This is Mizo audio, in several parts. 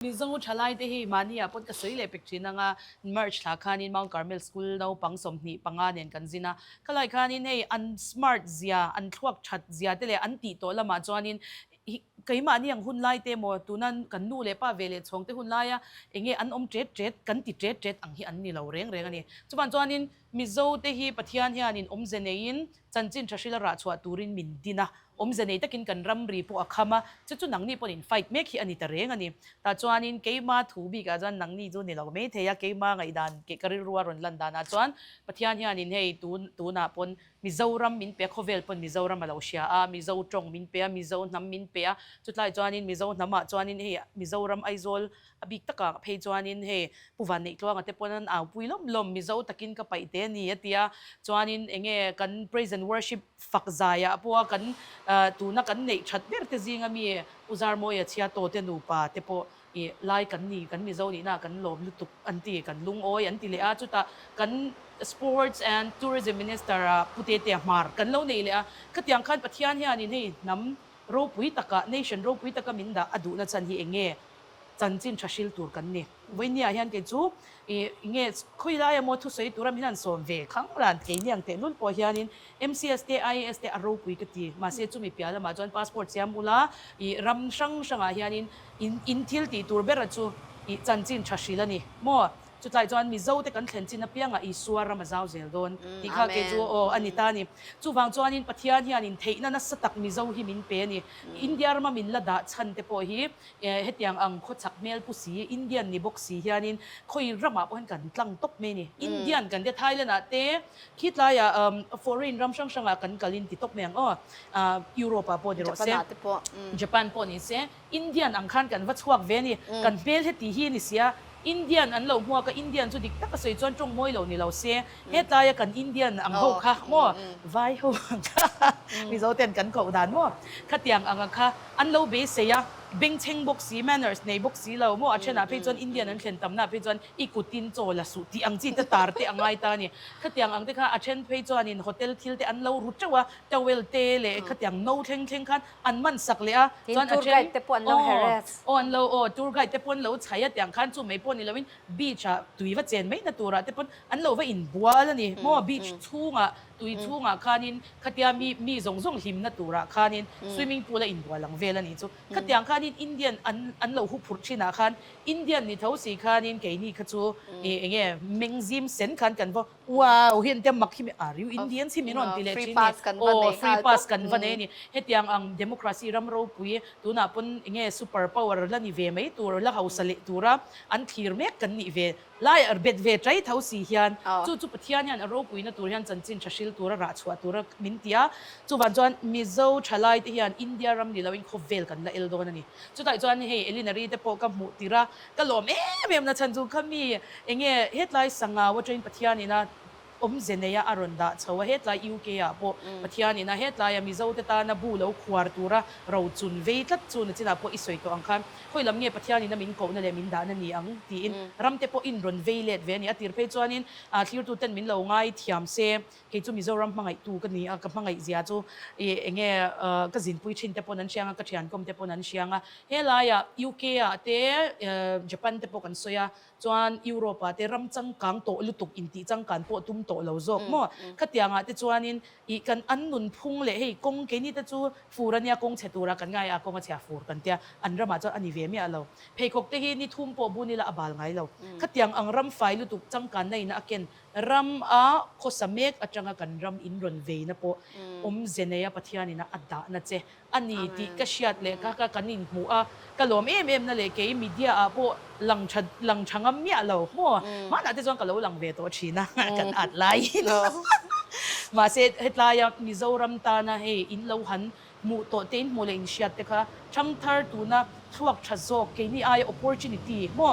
Mizo thalai te hi mahni ah pawt ka sawi leh pek thin ang a, March thla khanin Mount Carmel School naupang sawmhnih panga nen kan zin a, ka lai khanin hei an smart zia, an thluak that zia te leh an tih tawh lam ah chuanin hi keimahni ang hun lai te emaw, tuna kan nu leh pa ve leh chhawng te hun lai a eng nge an awm tet tet kan ti tet tet ang hi an ni lo reng reng a ni. Chuvang chuanin. Mizo te hi Pathian hian in awmze nei in chanchin tha hril a rah chhuah tur in min din a, awmze nei tak in kan ram ri pawh a kham a, chu chu nangni pawn in fight mek hi a ni ta reng a ni. Tah chuan in keima thu bik ah chuan nangni chu ni lo maithei a, keima ngaihdan ka rilru a rawn lan dan ah chuan Pathian hian in hei tun tun ah pawn Mizo ram min pe a, khawvel pawn Mizo ram a lo hria a, Mizo tawng min pe a, Mizo hnam min pe a, chutlai chuan in Mizo hnam ah chuan in hei Mizo ram Aizawl A bik takah ka phei chuanin hei Pu Vanneihtluanga te pawh an aupui lawm lawm, Mizo takin ka paih teh a ni, a ti a. Chuanin eng nge kan Praise and Worship fak zaiah pawha kan tuna kan neih that ber te zinga mi U Zarmawia Chhiatawte nupa te pawh i Lai kan ni, kan Mizo nihna ah kan lawm lutuk an ti, kan lungawi an ti leh a. Chutah kan Sports and Tourism Minister a Pu Tetea Hmar kan lo neih leh a. Khatiang khan Pathian hianin hei hnam ropui taka, nation ropui taka min dah a duhna chan hi eng nge chanchin tha hril tur kan ni. Vawinia hian kei chu i nge khawi lai a maw thusawi tura min han sawm ve khanglan keiniang tehnul pawh hianin MCS te IAS te a ropui ka ti. Mahse chumi piah lamah chuan passport siam ula i ram hrang hrangah hianin in in thil tih tur bera chu i chanchin tha hril a ni maw? Chutlai chuan Mizo te kan thlen chin apiangah Isua ram a zau zel dawn tih kha kei chu aw a ni ta ni. Chuvang chuanin Pathian hian intheihna nasa tak Mizo hi min pe a ni. India rama min la dah chhan te pawh hi E, hetiang ang khaw chak hmel pu si, Indian ni bawk si hianin khawi ramah pawhin kan tlang tawp mai a ni. Indian kan tia, Thailand ah te, khi tlaia foreign ram hrang hrangah kan kalin ti tawp mai ang aw, Europe ah pawh ni rawh se, Japan pawh ni se, Indian ang khan kan va chhuak ve a ni. Kan hmel heti hi a ni sia, Indian an lo hmuak a, Indian chu dik tak a sawi chuan tawngmawi lo ni lo se, hetlaia kan Indian ang ho kha maw, vai ho ang kha Mizo ten kan koh dan maw, khatiang anga kha an lo be sawi a, bengchheng bawk si, manners nei bawk si lo maw, a thenah phei chuan Indian an thlen tamna phei chuan i kutin chaw la suh tih ang chi te tar te a ngai ta a ni. Khatiang ang te kha a then phei chuanin hotel thil te an lo ru teuh a, towel te leh khatiang no thleng thleng khan an man sak leh a, chuan a chen aw aw an lo aw tour guide te pawh an lo chhai a tiang khan chu mai pawh ni lo in beach ah tui va chen mai na tur ah te pawn an lo va in bual a ni maw beach chhung ah tui chhung ah khan in khatia mi mi zawng zawng hlim na tur ah khan in swimming pool a in bual ang vel a nih chu khatiang khan in Indian an an lo hu phurh thin ah khan Indian ni tho si khan in kei ni kha chu eng nge meng zim sen khan kan va Wow, heng te mak hi mi a riu Indians hi min rawn ti leh thin ni, aww free pass kan va nei a ni, hetiang ang democracy ram ropui tunah pawn enge super power la ni ve mai tur la hausa leh tura an thlir mek kan nih ve lai a bet ve tai tho si hian chu chu Pathian hian a ropuina tur hian chanchin tha hril tur a rah chhuah tur a min ti a, chuvan chuan Mizo tha lai te hian India ram ni lo in khawvel kan la el dawn a ni chutah chuan hei Elina Ree te pawh ka hmuh tirh a. Ka lawm em em nachhan chu kha mi enge hetlai sangau atangin Pathianin a awm ze neia a rawn dah chho a, hetlai UK ah pawh Pathianin a hetlaia Mizo te tana bu lo khuar tura ro chun vei tlat chu nachinah pawh i sawi tawh ang khan khawi lam nge Pathianin a min kohna leh min dahna ni ang tiin ramte pawhin rawn vei let ve a ni a tir phei chuanin thlir tuten min lo ngai thiam se Kei chu Mizoram hmangaihtu ka ni a, ka hmangaihzia chu i enge ka zinpui thinte pawn an hriang a, ka thiankhawmte pawn an hriang a. Helaiah UK ah te Japan te pawh kan sawi a, chuan Europe ah te ram changkang tawh lutuk intih changkan pawh tum tawh lo zawk maw? Khatianga te chuanin i kan an nunphung leh hei kawng keini te chu fur ania kawng chhe tura kan ngai a, kawnga chhia fur kan tia, an ramah chuan a ni ve miah lo. Pheikhawkte hi nithum pawh bun ila a bal ngai lo. Khatiang ang ram fai lutuk changkan na ina a ken Ram a khawsa mek atanga kan ram in rawn veina pawh awmze neia Pathianin a a dahna che a ni tih ka hriat leh ka ka kan in hmuh a, ka lawm em em na leh kei media ah pawh lang tha lang tha ngam miah lo haw hmanah te chuan ka lo lang ve tawh thin a kan at laiin mahse hetlai a Mizoram tana hei in lo han Hmuh tawh te inhmuh leh inhriat te kha thang thar tuna thluak tha zawk keini aia opportunity maw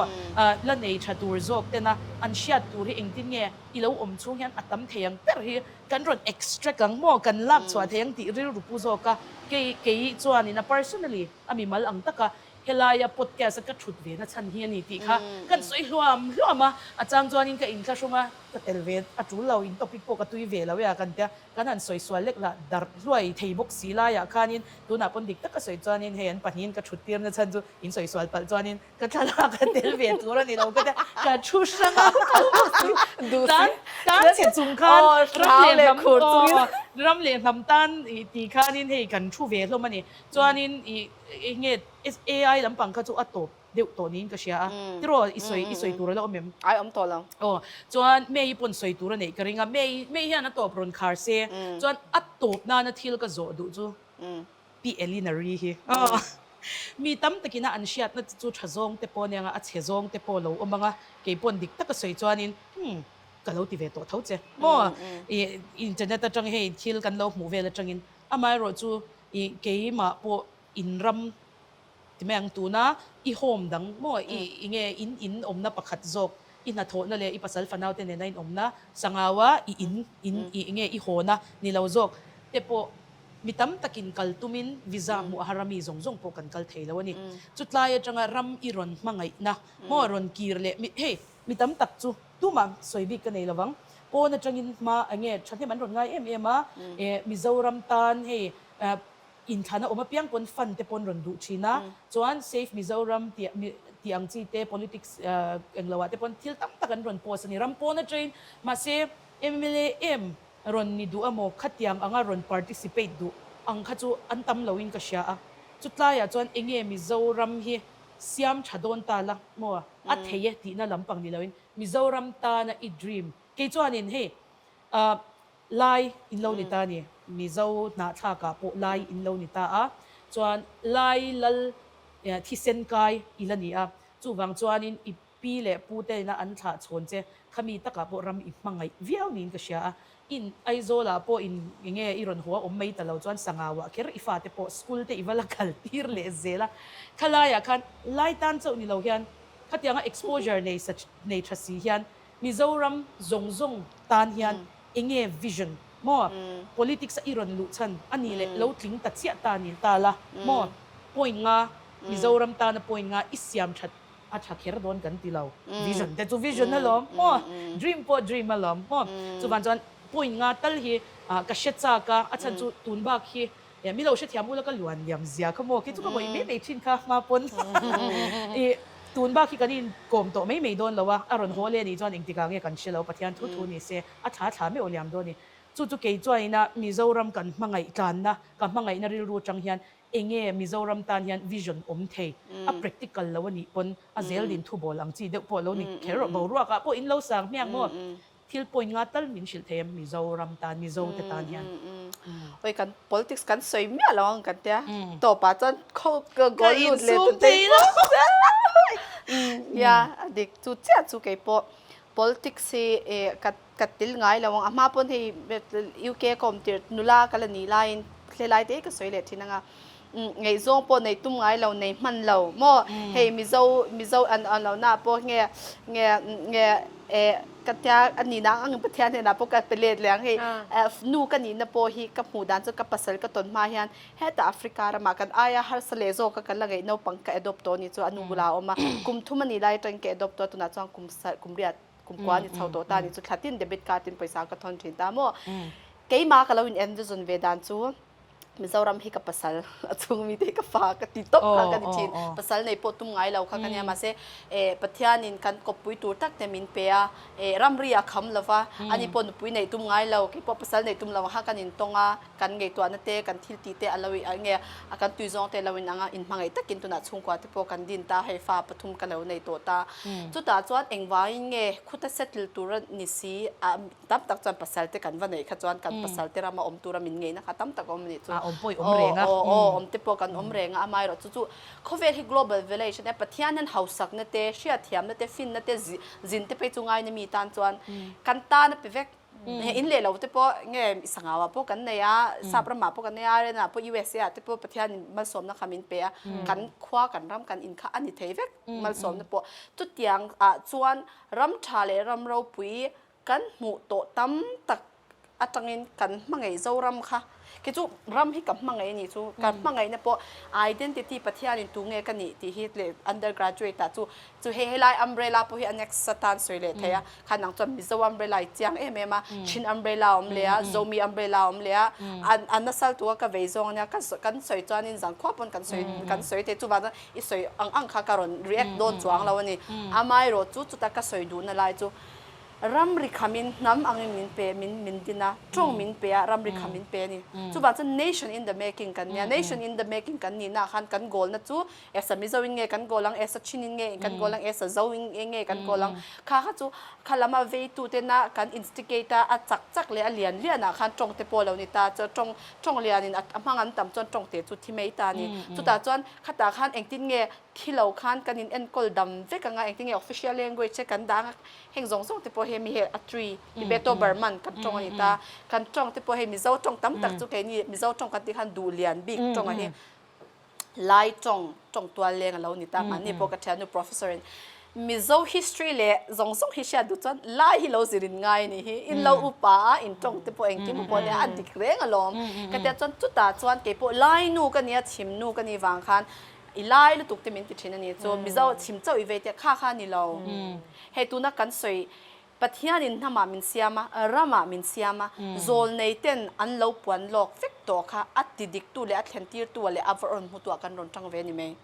la nei tha tur zawk tena an hriat tur hi engtin nge i lo awm chhung hian a tam thei ang ber hi kan rawn extract ang maw kan lak chhuah thei ang tih rilru pu zawk a kei kei chuan in a personally a mi mal ang taka helai a podcast a ka thut ve na chhan hi a ni tih kha kan sawi hluam hluam a a chang chuan in ka in thla hrawng a ka tel ve a tul lo in topic pawh ka tui ve lo e a kan tia. Kan han sawi sual lek lah, darh hluai thei bawk si laiah khanin tunah pawn dik taka sawi chuanin hei an pahnihin ka thuttir nachhan chu in sawi sual palh chuanin ka thlalak a tel ve tur a ni lo ka tia, ka thu hrang a, tan tan chhe chung khan ram leh hnam aw ram leh hnam tan ih ti khanin hei kan thu ve hlawm a ni chuanin ih enge ai lampang kha chu a tawp. deuh tawh niin ka hria a, tiraw i sawi i sawi tur a la awm em? Ai awm tawh lo. Aw, chuan May-i pawn sawi tur a neih ka ring a, May, May hian a tawp rawn khar se, chuan a tawp nana thil ka zawh duh chu pi Elina ri hi aw, mi tam takin a an hriatna chi chu tha zawng te pawh nia, a chhe zawng te pawh lo awm ang a, kei paw'n dik taka sawi chuanin hmm, ka lo ti ve tawh tho che maw, i internet atang hei thil kan lo hmuh vel atangin amaherawhchu i keimah pawh In ram ti mai ang tuna i home dang maw i i nge in in awmna pakhat zawk i hnathawhna leh i pasal fanaute nena inawmna sangau a i in in i i nge i hawnna ni lo zawk te pawh mi tam takin kal tumin visa hmuh aha rami zawng zawng pawh kan kal thei lo a ni chutlai atanga ram i rawn hmangaihna maw rawn kir leh mi hei mi tam tak chu tumah sawi bik ka nei lo vang pawn atangin hma a nge thahnem an rawn ngai em em a e mizoram tan hei a Inthlahna awm apiang pawn fund te pawn rawn duh thin a, chuan Save Mizoram tih tih ang chi te politics englo ah te pawn thil tam tak an rawn post a ni. Ram pawn atangin mahse mla em rawn ni duh emaw khatiang anga rawn participate duh ang kha chu an tam lo in ka hria a, chutlai ah chuan enge Mizoram hi siam tha dawn ta la maw a a thei e tihna lampang ni lo in Mizoram tana i dream kei chuan in hei ah Lai in lo ni ta ni. Mizo hna thlak ah pawh Lai in lo ni ta a, chuan Lai lal thisen kai i la ni a. Chuvang chuan in i pi leh pu te in a an thlah chhawn che kha mi tak ah pawh ram i hmangaih viau niin ka hria a. In Aizawl ah pawh in eng nge i rawn haw a awm mai ta lo chuan Sangau ah kher i fa te pawh school te i va la kal tir leh zel a. Kha lai ah khan Lai tan chauh ni lo hian khatiang a exposure nei sa nei tha si hian Mizoram zawng zawng tan hian eng nge vision maw politics a i rawn luh chhan a nih leh lo tling ta chiah ta nih ta la maw point nga Mizoram tana point nga i siam that a tha kher dawn kan ti lo vision te chu vision a lawm maw dream pawh dream a lawm maw chuvan chuan point nga tal hi ka hre chak a a chhan chu tun bak hi Eng milo hrethiam ula ka luan liam zia kha maw, kei chu ka vawi mai mai thin kha hma pawn i tun bak hi kan in kawm tawh mai mai dawn lo a, a rawn haw le ni chuan eng tikah nge kan hre lo, Pathian thu thu ni se, a thla thla meuh liam dawn ni. Chu chu kei chuan ina Mizoram kan hmangaih tlanna, ka hmangaihna rilru atang hian eng nge Mizoram tan hian vision awm thei a practical lo a nih pawn a zel din thubawl ang chi deuh pawh lo ni kher rawh, boruak ah pawh in lo sang hmiang maw Thil point nga tal min hrilh thei em Mizoram tan Mizo te tan hian Hoi kan politics kan sawi miah lo ang kan tia top ah chuan goal lut leh tun te hi nia a dik chu chiah chu kei pawh politics hi ka tel ngai lo ang a hma pawn hei UK a ka awm tirh nula ka la ni laiin hlelai te hi ka sawi leh thin anga ngeih zawng pawh nei tum ngai lo, nei hman lo maw? Hei Mizo, Mizo an an lo naah pawh nge, nge, nge e ka tia a nih na ang Pathian hnenah pawh ka pe let leh ang hei e nu ka nihna pawh hi ka hmuh dan chuan ka pasal ka tawn hma hian heta Africa ramah kan aia harsa leh zawka kan la ngeih naupang ka adopt tawh a ni chu a nu bulah a awm a, kum thum a nih lai atangin ka adopt tawh a tunah chuan kum sal, kum riat, kum kua a ni chho tawh ta a ni chu thlatin debit card in pawisa ka thawn thin ta maw? Keimah ka lo in envisage ve dan chu. Mizoram hi ka pasal a chhung mi te ka fa ka ti tawp kha ka ni thin pasal nei pawh tum ngai lo kha ka nia mahse eh Pathian in kan kawppui tur tak te min pe a eh ramri a kham lo va ani pawh nupui nei tum ngai lo kei pawh pasal nei tum lo ang kha kan in tawng a kan ngaihtuah na te kan thil ti te a lo in eng nge a kan tui zawng te a lo in ang a in hmangaih tak in tunah chhungkua te pawh kan din ta hei fa pathum ka lo nei tawh ta chutah chuan engvang in nge khuta settle tur a ni si ah Tam tak chuan pasalte kan va neih kha chuan kan pasalte rama awm tura min ngeihna kha tam tak a awm anih chu. A awm pawh i awm reng a. Aw aw aw awm te pawh kan awm reng a amaherawh chu chu khawvel hi global velai hrena Pathian hian hausakna te, hriatthiamna te, finna te, zi zin te phei chu ngaina mi tan chuan kan tana pe vek. He in leh lo te pawh nge i sangau ah pawh kan nei a, sap ram ah pawh kan nei a, Ireland ah pawh usa ah te pawh Pathian in malsawmna kha min pe a, kan khua kan ram kan in kha a ni thei vek malsawmna pawh. Chutiang ah chuan ram tha leh ram ropui Kan hmuh tawh tam tak atangin kan hmangaih zo ram kha, kei chu ram hi ka hmangaih a nih chu, ka hmangaihna pawh identity Pathianin tu nge ka nih tih hi le under graduate ah chu, chu hei helai umbrella pawh hi anext a tan sawi leh thei a, khan ang chuan Mizo umbrella i chiang em em a, Chin umbrella a awm leh a, Zomi umbrella a awm leh a, a nasal tu a ka vei zawng ania, ka sawi kan sawi chuanin zang khuap pawn kan sawi kan sawi thei, chuvang chuan i sawi ang ang kha ka rawn react dawn chuang lo a ni, amaherawhchu chuta ka sawi duhna lai chu, Ram ri kha min hnam angin min pe, min min din a, tawng min pe a, ram ri kha min pe a ni. Chuvang chuan nation in the making kan nia, nation in the making kan ni naah khan kan goal na chu esa mizo in nge kan goal ang, esa chin in nge kan goal ang, esa zo in nge kan goal ang, kha kha chu kha lam a vei tu tena kan instigate a, a chak chak leh a lian lian ah khan tawng te pawh lo ni ta, chuan tawng, tawng lian in a hmang an tam chuan tawng te chu thi mai ta a ni. Chutah chuan khatah khan engtin nge Khi lo khan kan in enkawl dam vek ang a, engtinge official language e kan dah ang a, heng zawng zawng te pawh hei mi hei a twi, Tibeto Burman kan tawng a ni ta, kan tawng te pawh hei Mizo tawng tam tak chu keini Mizo tawng kan tih khan duh lian bik tawng a hi Lai tawng, tawng tual leng a lo ni ta, mahni pawh ka thiannu professor in Mizo history leh zawng zawng hi hriat duh chuan Lai hi lo zir in ngai a nih hi, in lo upa a, in tawng te pawh engkim a pawh leh a dik reng alawm, ka tia chuan chutah chuan kei pawh Lainu ka nia, chhimnu ka nih vang khan I lai lutuk te min ti thin a ni chu. Mizo chim chauh i ve tia kha kha a ni lo. Hei tuna kan sawi, Pathianin hnamah min siam a, ramah min siam a, zawl nei ten an lo puan lawk vek tawh kha a ti dik tu leh a thlen tir tua leh a va rawn hmu tua kan rawn tang ve a ni mai.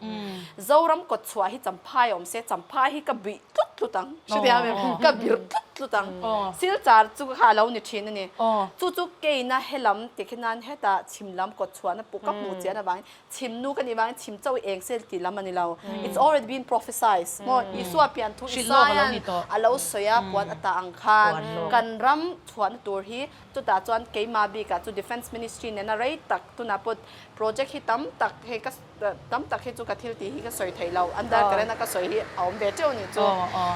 Zoram kawt chhuah hi champha i awm se, champha hi ka buih tlut tlut ang, hre thei ang em? Ka bir tlut tlut ang. Silchar chu kha a lo ni thin a ni. Chu chu keina he lam tikhi nan heta chim lam kawt chhuahna puh ka hmuh chian avangin Chhim nu ka nih vangin chhim chauh eng se tih lam a ni lo. It's already been prophesized maw? Isua pian thu Isaia'n a lo sawi a, puan a ta ang khan. Kan ram chhuahna tur hi chutah chuan keimah bikah chu Defence Ministry nena rei tak tunah pawt project hi tam tak hei ka tam tak hi chu ka thil tih hi ka sawi theih lo, under current a ka sawi hi a awm ve teuh nih chu.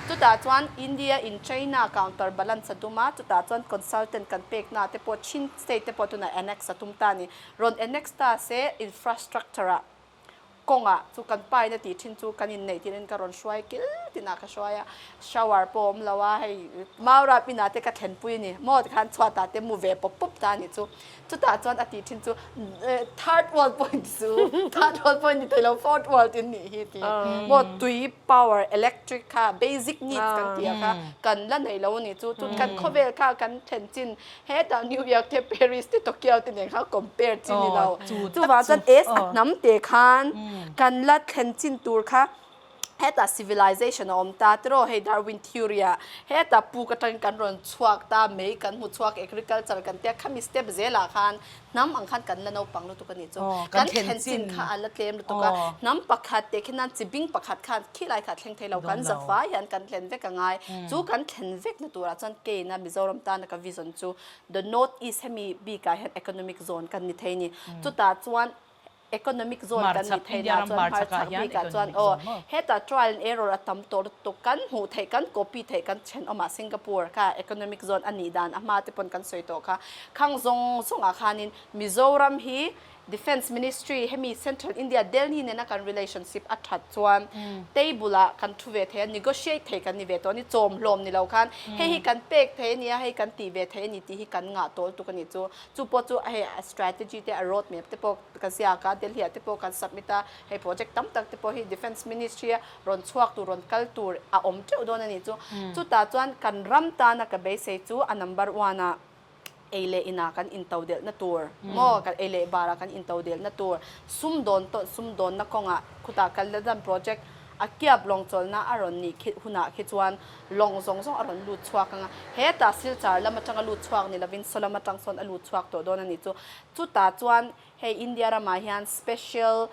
Chutah chuan India in China counter balance a dum a, chutah chuan consultant kan peknaah te pawh Chin state te pawh tunah annex a tum ta a ni. Rawn annex ta se infrastructure ah kawngah chu kan paina tih thin chu kan inneih tir in ka rawn hruai kil tin ah ka hruai a, shower pawh a awm lo a hei mau rap in ah te ka thlen pui a ni, maw ti khan chhuat ah te mu ve pawp pawp ta a nih chu, chutah chuan a tih thin chu third world pawh a ni chu, third world pawh a ni theih lo fourth world in nih hi ti maw tui power electric kha basic needs kan tih ah kha kan la neih lo a ni chu, chu kan khawvel kha kan thlen chin Hetah New York te Paris te Tokyo te nen kha compare chin ni lo. Chuvang chuan a sahnam te khan kan la thlen chin tur kha hetah civilization a awm ta tiraw hei Darwin theory ah hetah puk atangin kan rawn chhuak ta mei kan hmu chhuak agriculture kan tia khami step zelah khan Hnam ang khan kan la naupang lutuk a nih chu. Kan thlen chin kha a la tlem lutuk a. Hnam pakhat teh khin nan chi bing pakhat khan khi lai kha thleng thei lo. Kan za vai hian kan thlen vek a ngai. Chu kan thlen vek na turah chuan kei ina Mizoram tana ka vision chu the North East hemi bikah hian economic zone kan ni thei a ni. Chutah chuan Economic zone kan nih theih na chuan hmarchhak bik ah chuan aw heta trial and error a tam tawh lutuk kan hmuh theih kan copy theih kan chhen awm a Singapore kha economic zone a nih dan a hma te pawn kan sawi tawh kha khang zawng zawng ah khan in Mizoram hi Defence Ministry hemi Central India Delhi nena kan relationship a that chuan table ah kan thu ve thei a negotiate thei kan ni ve tawh a ni chawm hlawm ni lo khan hei hi kan pek thei a nia hei kan tih ve thei a ni tih hi kan ngah tawh lutuk a ni chu Chu pawh chu hei a strategy te a road map te pawh kan ziak a, Delhi ah te pawh kan submit a, hei project tam tak te pawh hi Defence Ministry a rawn chhuak tur, rawn kal tur a awm teuh dawn a nih chu. Chutah chuan kan ram tana ka beisei chu a number one a ei leh inah kan into delhna tur maw, kan ei leh barah kan into delhna tur, sum dawn tawn sum dawnna kawngah khutah kal na dan project a kiap lawng chawlhna a rawn nih khi hunah khi chuan, lawng zawng zawng a rawn lut chhuak ang a, hetah silchar lam atanga lut chhuak ni lovin saw lam atang sawn a lut chhuak tawh dawn a nih chu. Chutah chuan hei India ramah hian special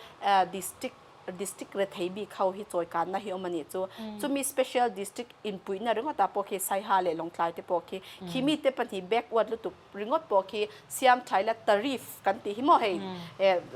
district district rethei bik ho hi chawikanna hi awm a nih chu. Chumi special district inpuihna ringawtah pawh khi Saiha leh Lawngtlai te pawh khi, khi mite pahnih backward lutuk ringawt pawh khi siamtha ila tariff kan tih hi maw hei,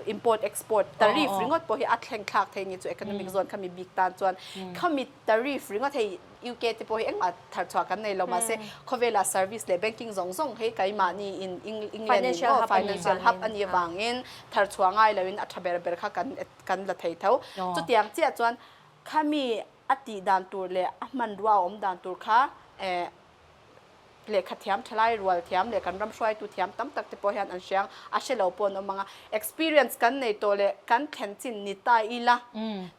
import export tariff ringawt pawh hi a thlengthlak thei a nih chu economic zone khami bik tan chuan khami Tariff ringa thei UK te pawh hi engmah thar chhuah kan nei lo mahse khawvela service leh banking zawng zawng hi keimahni in England in aw financial hub a nih avangin thar chhuah ngai lo in a tha ber ber kha kan kan la thei tho. Chutiang chiah chuan khami a tih dan tur leh a hmanrua a awm dan tur kha eh lehkha thiam thalai rual thiam leh kan ram hruaitu thiam tam tak te pawh hian an hreng a hre lo pawh an awm ang a experience kan nei tawh leh kan thlen chin ni ta ila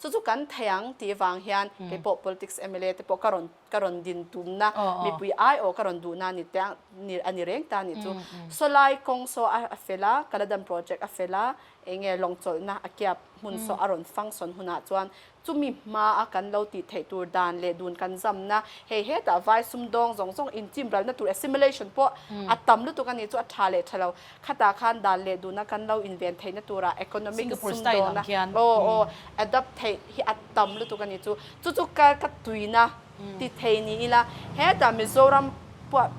chu chu kan thei ang tih vang hian kei pawh politics mla te pawh ka rawn ka rawn din tum na mipui ai aw ka rawn duh na ni te a ni reng ta ni chu sawlai kawng saw a fel a kaladan project a fel a eng nge lawng chawlh na a kiap hmun saw a rawn fang sawn hunah chuan Chumi hma a kan lo tih theih tur dan leh dun kan zamna, hei hetah vai sumdawng zawng zawng inchimralna tur assimilation pawh a tam lutuk a nih chu a tha leh tha lo. Khatah khan dan leh dun a kan lo inven theihna turah economic sumdawngna aw aw adopt theih hi a tam lutuk a nih chu. Chu chu ka ka tuina ti thei ni ila hetah Mizoram pawh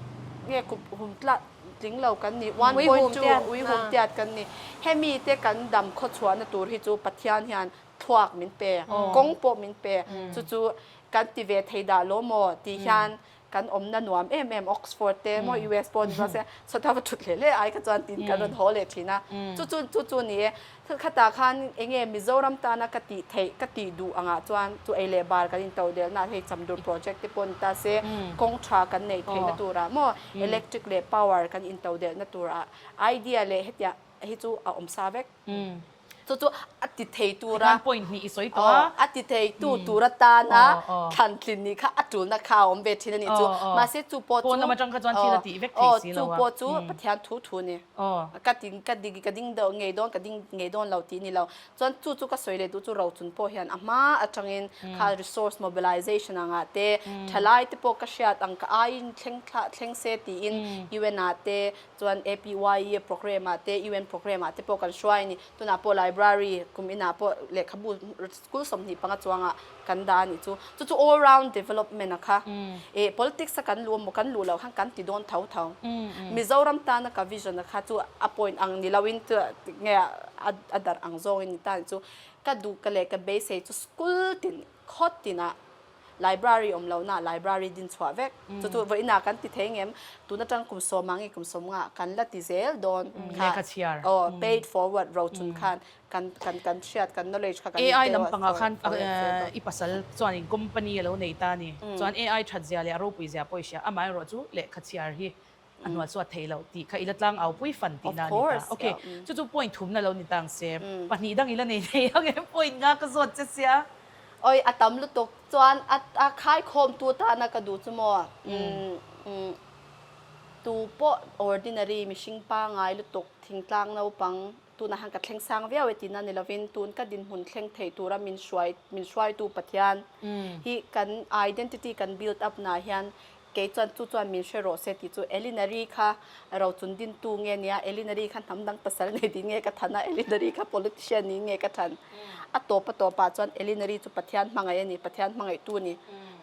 nge kup hum tlat tling lo kan ni one point two uihum tiat kan ni. Hemi te kan dam khawchhuahna tur hi chu Pathian hian thluak min pe, kawng pawh min pe, chu chu kan ti ve thei dah lo maw tih hian kan awmna nuam em em, Oxford te maw US pawh ni maw se, Sawtah va thut hle hle ai kha chuan tin kan rawn haw leh thin a, chu chu chu chu ni e. Thil khatah khan enge Mizoram tana ka tih theih, ka tih duh angah chuan chu ei leh bar kan intoh delna hei Chamdur project te pawh ni ta se, kawng tha kan neih theihna turah maw, electric leh power kan intoh delhna turah idea leh hetiang hi chu a awm sa vek. Chu chu a ti thei tura. Tikhan point hnih i sawi tawh a. A ti thei tu tura tana thlantlin nih kha a tulna kha a awm ve thin a nih chu. Mahse chu pawh chu. Pawnlam atang kha chuan thil a tih vek thei si lo a. Aw, chu pawh chu Pathian thu thu ni. Ka ti ka ti ka ding dawn ngei dawn ka ding ngei dawn lo tih ni lo. Chuan chu chu ka sawi leh duh chu rochun pawh hian a hma atangin kha resource mobilization ang ah te, thalai te pawh ka hriat ang ka aiin thleng thleng se tiin UN ah te, Chuan APYE programme ah te UN programme ah te pawh kan hruai a ni. Tunah pawh library kum inah pawh lehkhabu school sawmhnih panga chuangah kan dah a nih chu. Chu chu all round development a kha. Eh politics a kan luh a maw kan luh loh khan kan ti dawn tho tho. Mizoram tana ka vision a kha chu a point ang ni loin chu nge a darh ang zawngin ni ta ni chu. Ka duh ka leh ka beisei chu school tin khawt tinah. Library awm lo naah Library din chhuah vek. Chu chu vawiin ah kan ti thei ngem. Tun atang kum sawm ah nge kum sawm nga kan la ti zel dawn kha. Lehkha chhiar. Aw, pay it forward ro chun khan kan kan kan hriat kan knowledge kha kan in AI lam pangah khan i pasal chuan in company a lo nei ta a ni. Chuan AI that zia leh a ropui zia pawh i hria. Amah erawh chu lehkha chhiar hi a hnuah chu a thei lo tih kha ila tlang au pui fan tihna a ni ta. Ok, chu chu point thumna lo ni tang se. Pahnih dang ila nei thei ang em, point nga ka zawt che sia. Awih, a tam lutuk chuan a khaikhawmtu atana ka duh chu maw tu pawh ordinary mihring pangai lutuk thingtlang naupang. Tunah hian ka thleng sang viau e tiin a ni lovin tun ka dinhmun thleng theih tura min hruai min hruaitu Pathian hi kan identity kan build up na hian kei chuan chu chuan min hre rawh se tih chu Elinary kha rochun dintu nge nia Elinary kha hnam dang pasal nei din nge ka than a Elinary kha politician niin nge ka than a tawpa tawpah chuan Elinary chu Pathian hmangaih a ni Pathian hmangaihtu a ni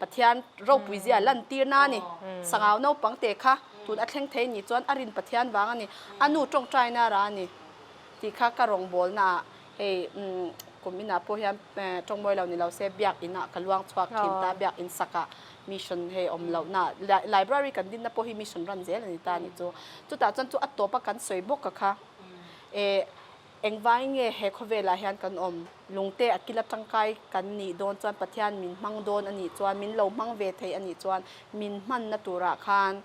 Pathian ropui zia lantirna a ni sangau naupang te kha Tun a thleng thei ni chuan a rin Pathian vang a ni, a nu tawngtaina ra a ni tih kha ka rawngbawlna ah hei kum inah pawh hian tawngmawi lo ni lo se Biakinn ah ka luang chhuak thin ta, Biakinn sakah mission hei awm lohna ah library kan dinna pawh hi mission ran zel a ni ta nih chu. Chutah chuan chu a tawpa kan sawi bawk a kha. E. Engvângin nge he khawvêlah hian kan awm? Lungte a kil a ṭangkai kan nih dâwn chuan Pathian min hmang dâwn a nih chuan, min lo hmang ve thei a nih chuan, min hmanna tûrah khân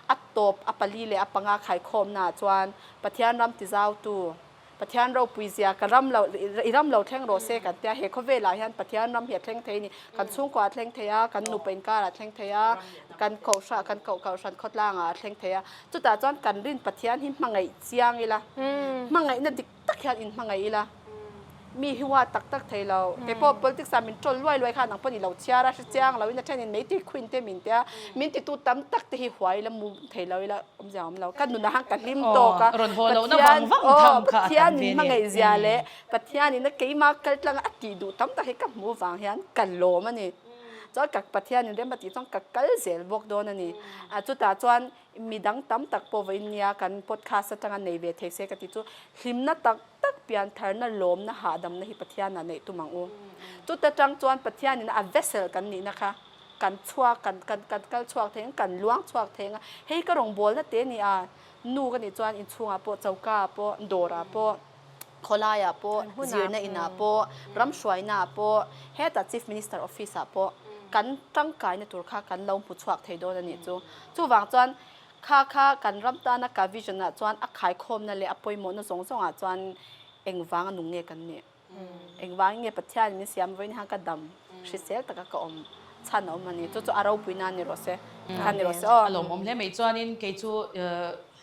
a tâwp a pali leh a panga khaikhâwmnaah chuan Pathian ram ti zâutu, Pathian ropui zia ka ram lo, i ram lo thleng rawh se kan ti a. He khawvêlah hian Pathian ram hi a thleng thei a ni. Kan chhûngkuah a thleng thei a, kan nupa inkarah a thleng thei a, kan kohhran, kan kohkal hran khawtlângah a thleng thei a. Chutah chuan kan rin Pathian hi hmangaih chiang ila, hmangaihna dik tak hian in hmangaih ila, mi hi hua tak tak thei lo, keipawh politics ah min ṭawl luai luai kha nang pawh ni lo chhiar a, hrichiang lo in a ṭhenin mei tui khuin te min tia, min ti tu tam tak te hi huai ila, muh thei lo ila awm zia awm lo, ka nun ahan ka hlim tawk a, Pathian aw Pathian min hmangaih zia leh Pathian in a keima kaltlang a a tih duh tam tak hi ka hmuh vang hian ka lawm a ni. Chuan ka Pathian in rem a tih chuan ka kal zel bawk dawn a ni. A chutah chuan mi dang tam tak pawh vawiin nia kan podcast atanga nei ve thei se ka ti chu, hlimna tak tak pian tharna lawmna hahdamna hi Pathianah neih tum ang u. Chuta tang chuan Pathianin a vessel kan nihna kha kan chhuak, kan kan kan kal chhuak thei ang, kan luang chhuak thei ang a. Hei ka rawn bawlna te nia, nu ka nih chuan inchhungah pawh, chokaah pawh, dawrah pawh, Khawlaiah pawh, zirna inah pawh, ram hruainah pawh, heta Chief Minister Office ah pawh kan tangkaina tur kha kan lo hmu chhuak thei dawn a nih chu. Chuvang chuan kha kha kan ram tana ka vision ah chuan a khaikhawmna leh a pawimawhna zawng zawng ah chuan engvang a nung nge kan nih? Engvangin nge Pathian in min siam vawiin han ka dam hrisel taka ka awm chhan a awm a ni? Chu chu a ropui nan ni rawh se, ka ni rawh se aw. A lawmawm hle mai chuanin kei chu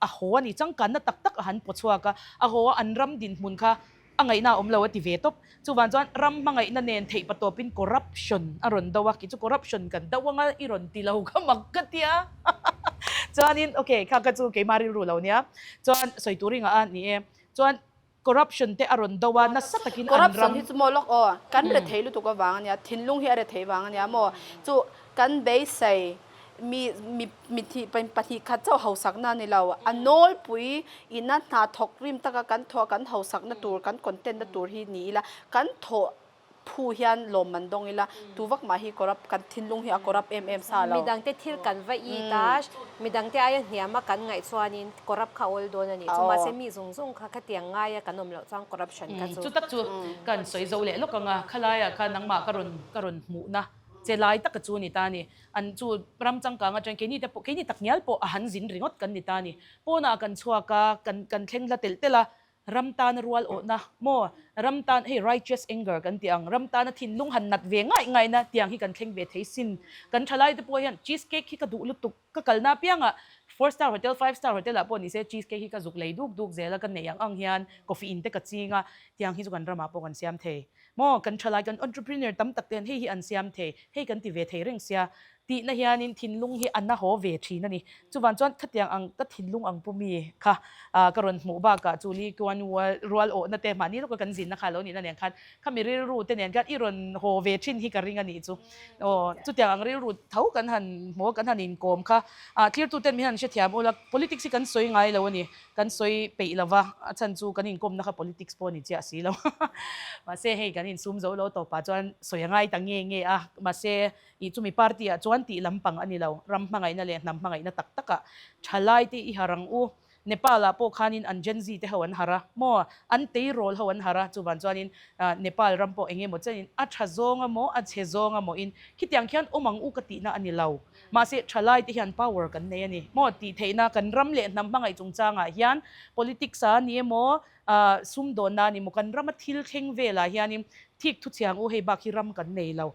A haw a nih, changkanna tak tak a han pawh chhuak a, a haw a an ram dinhmun kha a ngaihna a awm lo a ti ve tawp. Chuvang chuan ram hmangaihna nen theih pa tawpin corruption a rawn do a, kei chu corruption kan do ang a i rawn ti lo kha mak ka tia chuanin okay kha ka chu keima rilru lo nia chuan sawi tur i ngah a ni e chuan Corruption te a rawn do a, nasa takin an Corruption ram. hi chu maw lawk aw, kan rethei lutuk avang a nia, thinlung hi a rethei vang a nia maw, chu kan beisei mi mi mithi pahnih khat chauh hausakna a ni lo, a nawlpui ina hna thawk rim taka kan thawh a, kan hausakna tur, kan content na tur hi ni ila kan thawh phu hian lawm man dawng ila, tu vak mah hi corrupt, kan thinlung hi a corrupt em em sa lo. Mi dangte thil kan va i ta, mi dangte aia hniam a kan ngaih chuanin corrupt kha a awl dawn a ni. Chu mahse mi zung zung kha khatiang ngai a kan awm loh chuan corruption kha chu. Chutak chu kan sawi zo leh lawk ang a, khalaia kha nangmah ka rawn ka rawn hmuhna che lai taka chu a ni ta a ni. An chu ram changkang atang keini te pawh keini tak ngial pawh a han zin ringawt kan ni ta a ni. Pawnah kan chhuak a, kan kan thleng hla telh telh a, Ram tana rual awhna, maw? Ram tan, hei righteous anger kan tih ang, ram tana thinlung han nat ve ngaih ngaih na tiang hi kan thleng ve thei sin. Kan thalai te pawh hian cheese cake hi ka duh lutuk, ka kalna apianga four star hotel, five star hotel ah pawh ni se cheese cake hi ka zuk lei duk duk zel a, ka neih ang ang hian coffee in te ka ching a, tiang hi chu kan ramah pawh kan siam thei maw? Kan thalai kan entrepreneur tam tak te hian hei hi an siam thei, hei kan ti ve thei reng sia. Tihna hianin thinlung hi a na haw ve thin a ni. Chuvang chuan khatiang ang ka thinlung ang pu mi kha ka rawn hmuh bakah chu Lee Kuan Yew-a rual awhna te mahni lawka kan zinna kha a lo nihna nen khan khami rilru te nen khan i rawn haw ve thin hi ka ring a nih chu. Aw, chutiang ang rilru tho kan han hmu a, kan han inkawm kha a, tlirtu ten min han hrethiam ula, politics hi kan sawi ngai lo a ni, kan sawi peih lo va, a chhan chu kan inkawmna kha politics pawh a ni chiah a si lo. Mahse hei kan insum zo lo tawpah chuan sawi a ngai ta nge nge a, mahse I chumi party ah chuan tih lampang a ni lo, ram hmangaihna leh hnam hmangaihna tak tak ah thalai te i harh ang u, Nepal ah pawh khanin an Gen Z te ho an harh a, maw an tei rawl ho an harh a, chuvan chuanin Nepal ram pawh eng emaw chenin a tha zawng a maw a chhe zawng a maw in khitiang khian awm ang u ka tihna a ni lo, mahse thalai te hian power kan nei a ni maw tih theihna kan ram leh hnam hmangaih chungchang ah hian politics a ni emaw ah sumdawnna a ni maw kan ram a thil thleng vel ah hianin thik thuchhiang u hei bak hi ram kan nei lo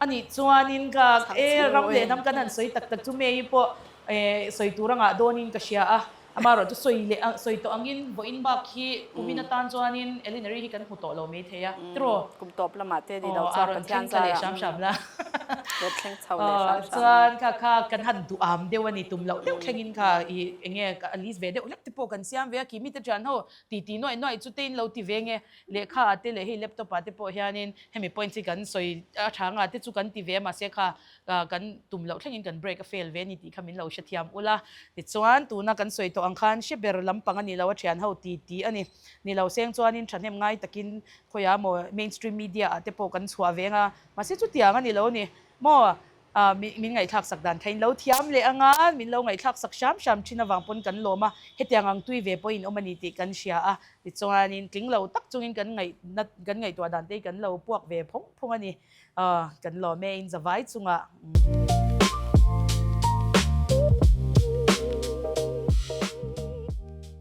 A nih chuanin ka e ram leh hnam kan han sawi tak tak chu May-i pawh e sawi tur angah dawnin ka hria a, amah erawh chu sawi leh a sawi tawh angin vawiin bak hi kumin atan chuanin Elinary hi kan hmu tawh lo mai thei a, ti raw? Kum tawp lamah te ni lo chuan ka thleng ka leh hram hram la. Ka thleng chho leh hram hram la. Chuan kha kha kan han duh am deuh a ni, tum loh deuh thlengin kha i eng nge a list ve deuh hlek te pawh kan siam ve a, kihmite ṭianho titi nuaih nuaih chu tein lo ti ve nge Lehkha ah te leh hei laptop ah te pawh hianin hemi points hi kan sawi a tha anga te chu kan ti ve a mahse kha kan tum loh thlengin kan break a fail ve a ni tih kha min lo hrethiam ulh a. Tichuan, tuna kan sawi tawh ang khan hre ber lampang a nih loh a thian ho ti ti a ni. Nilo seng chuanin thahnem ngai takin khawia maw mainstream media ah te pawh kan chhuah ve anga mahse chutiang a ni lo a ni maw? A, min min ngaihthlak sak dan khain lo thiam leh anga min lo ngaihthlak sak hram hram thin avang pawn kan lawm a, hetiang ang tui ve pawhin awm a ni tih kan hria a, tichuanin tling lo tak chungin kan ngaih na kan ngaihtuah dan te hi kan lo puak ve phawng phawng a ni, a, kan lawm e inza vai chungah umm.